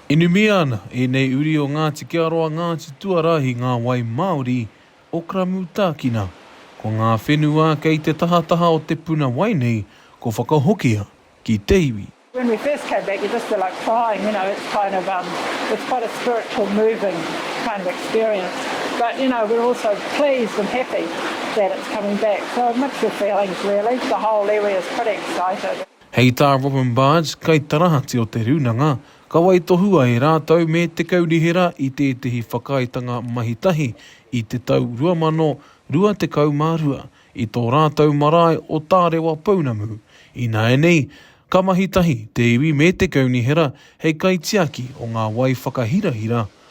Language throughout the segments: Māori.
Inumia ana ēnei uri o Ngāti Kearoa, Ngāti Tuarahi, ngā wai māori o Karamutakina. Ko ngā whenua kei te tahataha o te puna wai nei ko whakahokia ki te iwi. When we first came back you just feel like crying, you know, it's kind of um it's quite a spiritual moving kind of experience. But you know we're also pleased and happy that it's coming back, so mixed of feelings really, the whole iwi is pretty excited. Hei tā Robyn Barge, kaitarahati o Te Rūnanga, ka waitohua e rātou me te kaunihera i tētehi whakaaetanga mahitahi i te tau 2022 i tō rātou marae o Tārewa pounamu, ināianei ka mahitahi te iwi me te kaunihera hei kaitiaki o ngā wai whakahirahira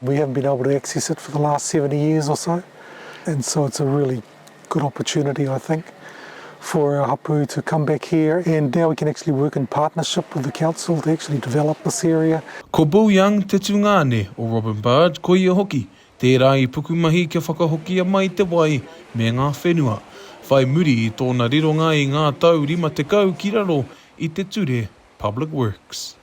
We haven't been able to access it for the last seventy years or so and so it's a really good opportunity I think for our hapu to come back here and now we can actually work in partnership with the council to actually develop this area. Ko Bill Young te tungāne o Robyn Bird, ko ia hoki tērā i pukumahi kia whakahokia mai te wai me ngā whenua, whai muri i tōna rironga i ngā tau rima tekau ki raro i te ture Public Works.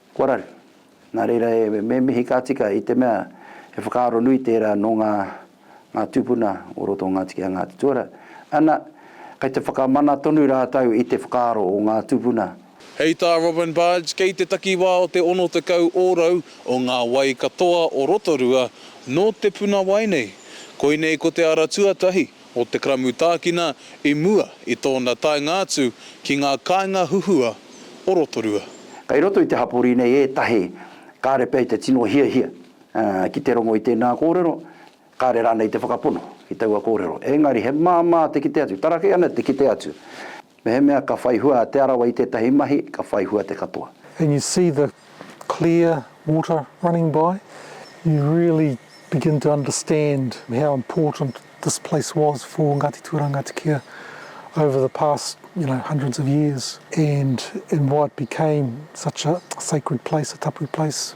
Kua raru. Nā reira e, me mihi ka tika i te mea he whakaaro nui tērā nō ngā, ngā tūpuna o roto o Ngāti Kē a Ngāti Tuara. Ana, kei te whakamana tonu rātou i te whakaaro o ngā tūpuna. Hei tā Robyn Barge, kei te takiwā o te 60 ōrau o ngā wai katoa o Rotorua nō te puna wai nei. Koinei ko te ara tuatahi. o Te Karamutākina i mua i tōna taenga atu ki ngā kāinga huhua o Rotorua. Kei roto i te hapori nei ētahi kāre pea i te tino hiahia ki te rongo i tēnā kōrero, kāre rānei i te whakapono ki taua kōrero. Engari he māmā te kite atu, tarakei ana te kite atu. Mehemea ka whai hua a Te Arawa i tētahi mahi, ka whai hua te katoa. And you see the clear water running by, you really begin to understand how important this place was for Ngāti Tūrangatikea over the past, you know, hundreds of years and why it became such a sacred place, a tapu place.